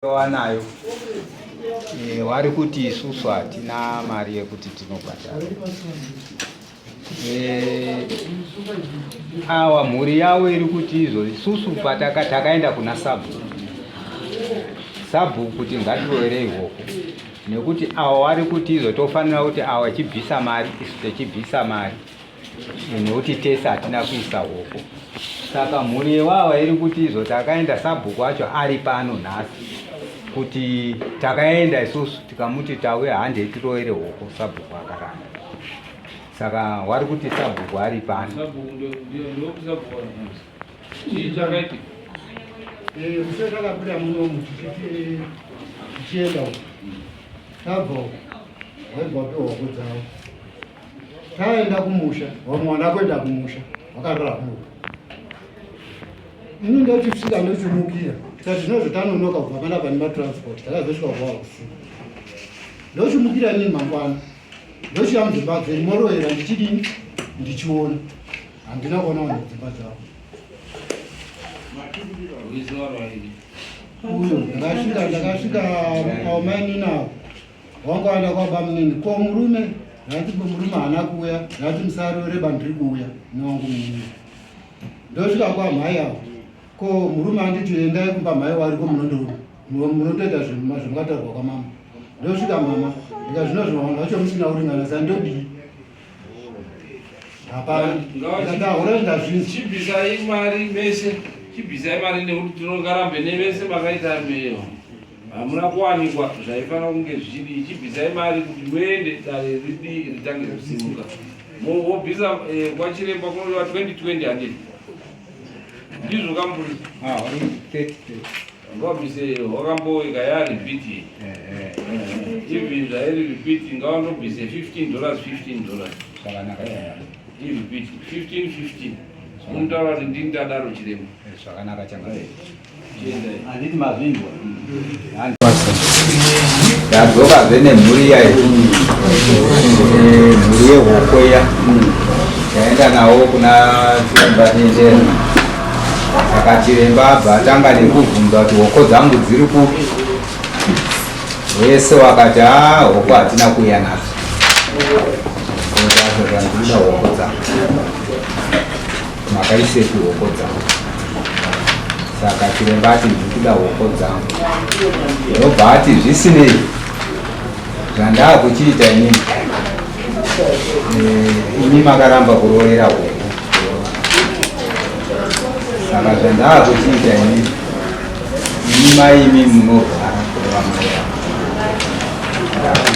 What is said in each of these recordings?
wanayo e, wari kuti isusu hatina mari yekuti tinobhadhara e, awa mhuri yavo iri kuti izvo isusu pataka takaenda kuna sabhuku sabhuku kuti ngatiroere ihoko nekuti awa wari kuti izvo tofanira kuti awa chibvisa mari isu techibvisa mari nekuti tese hatina kuisa hoko saka mhuri yewava iri kuti izvo takaenda sabhuku acho ari pano nhasi kuti takaenda isusu tikamuti tauya hande tiroere hoko sabhuku akaramba saka wari kuti sabhuku ari pano kusezvakabuda munomu tichienda tabva waibva pehoko dzavo taenda kumusha vamwe vana kuenda kumusha vakarara kumwe ini ndoti kusvika ndochimukira tikati zvinozotanonoka kubva pana pane matransport takazosvika kuva usiku ndochimukira nini mangwana ndochiya mudzimba dzeni moroera ndichidini ndichiona handina kuona vanhu dzimba dzavo uyo ndakasvika ndakasvika aomaininawo Wangu aenda kwa bamunini. Ko murume ndati murume haana kuuya ndati musaroreba ndiri kuuya newangu murume ndosvika kwamhai avo ko murume anditi endai kumba mhai wari ko munondoita zvimukataurwa kwamama ndosvika mama ndika zvino zvinovanhu vacho musina kuringana sa ndodii hapana ndahura ndazvinzchibvisai mari mese chibvisai mari nekuti tinongarambe nevese makaita meyo hamuna kuwanikwa zvaifanira kunge zvidi chibvisai mari kuti muende dare ridi ritange kusimuka mobvisa eh, kwachiremba kunodiwa 2020 handii ndizvo kamburi ah, ngavabvise wakamboika yaripiti even zvairi ripiti ngavandobvise 15 dollars 15 dollars iripiti 15 15 unotaura kuti ndini tadaro chiremba eh, zvakanaka changa handiti mazvinzwa ndadzoka zve nemhuri yayo mhuri yehoko iya taenda nawo kuna chiremba tendera saka chiremba abva atanga nekubvunza kuti hoko dzangu dziri kupi wese wakati a ah, hoko hatina kuuya nadzo otazotandiuda hoko dzangu Makaisei hoko dzangu? Saka chiremba ati ndiri kuda hoko dzangu, ndobva ati zvisinei zvandaa kuchiita inini eh, imi makaramba kuroorera hoko saka zvandaa kuchiita inini Ini mai imi munorwara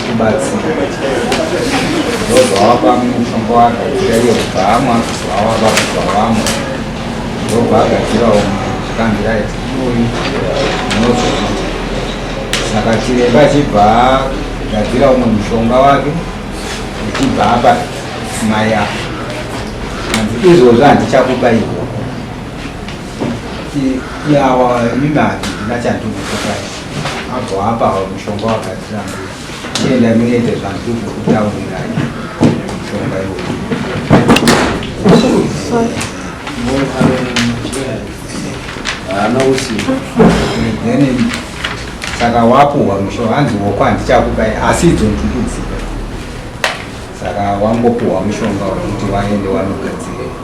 kubatsira ndozvawapa mushonga wagadzira iyo bhamu akuzoawapa kuzvawamo ndobva agadzirawo zvikandirai uyu unozoona saka chiremba achibva agadzira umwe mushonga wake achibva apa mai apo hanzi izvozvo handichakubairwa yawa imibati ndinachandukukutai abho apa mushonga wakatirambira chienda munoite zvanduku kutaurirai mushonga iwo anousi then saka wapuhwa mushonga hanzi woko handichakupai asi idzo ndukudzika saka wangopuhwa mushonga wekuti waende wanogadzirei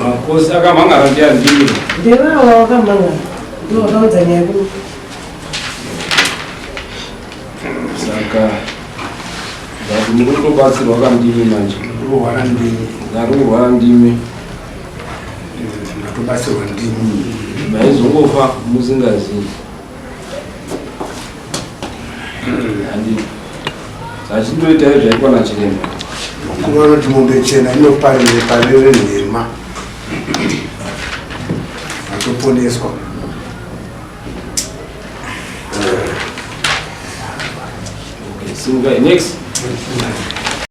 makosi akamhangara ndiandii ndevawa wakamhangara ndovakaudza nyaya kuu saka but munotobatsirwa kandimi manje kurwara ndimi ndarurwara ndimi ndatobatsirwa ndimi maizongofa musingazivi zvachindoita izvaitwa nachiremba mukuru vanoti mombe chena inoparire parire nhema atoponeswa okay, so guy, next.